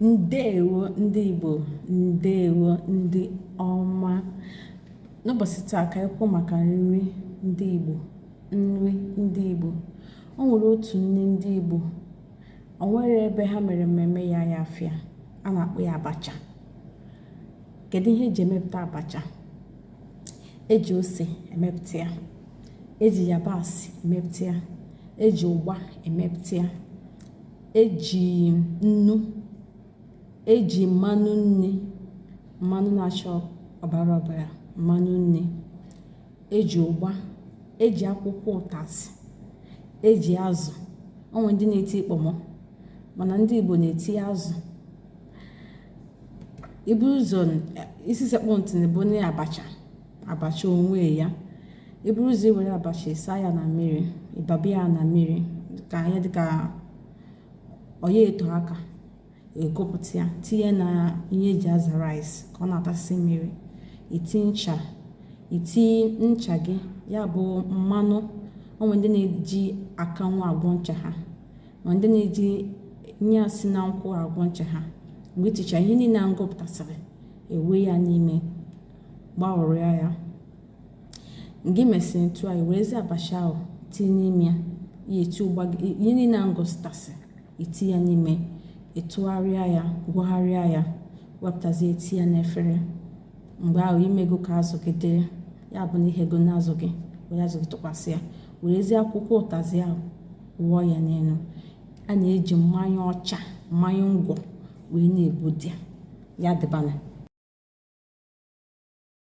ndewo ndị igbo ndewo ndị ọma n'ụbọchị taa ka anyị kwuo maka nri ndị igbo nri ndị igbo o nwere otu nri ndị igbo o nwere ebe ha mere mmemme ya ya afịa a na-akpọ ya abacha kedu ihe eji emepụta abacha eji ose emepụta ya eji yabasị emepụta ya eji ụgba emepụta ya eji nnu eji mmanụ nri mmanụ na-acha ọbara ọbara mmanụ nri eji ụgba eji akwụkwọ ụtazị eji azụ o nwe ndị na-eti kpọmọ mana ndị Igbo na-eti azụ ibu ụzọ isi sekpụ ntị na ya bụ na abacha abacha onwe ya iburu ụzọ iwere abacha ịsa ya na mmiri ịbaba ya na mmiri ka ihe dịka ọ ya-eto aka ekopụta ya tinye na ihe eji aza rice ka ọ na-atasị mmiri iti ncha iti ncha gị ya bụ mmanụ o nwe ndị na-eji akanwụ agwọ ncha ha ma ndị na-eji ihe a si na nkwụ agwọ ncha ha mgbe iticha ihe niile a m gụpụtasịrị ewe ya n'ime gbagharịa ya mgbe i mesịrị otu a werezi abacha ahụ tinye n'ime ya ihe niile a m gụpụtasị iti ya n'ime ịtụgharịa ya gwọgharịa ya wepụtazie eti ya n'efere mgbe ahụ imego ka azụ gị dị ya bụ na ighego azụ gị were azụ gị tụkwasị ya werezie akwụkwọ ụtazị ahụ wụọ ya n'elu a na-eji mmanya ọcha mmanya ngwọ wee na-ebuda ya dịbana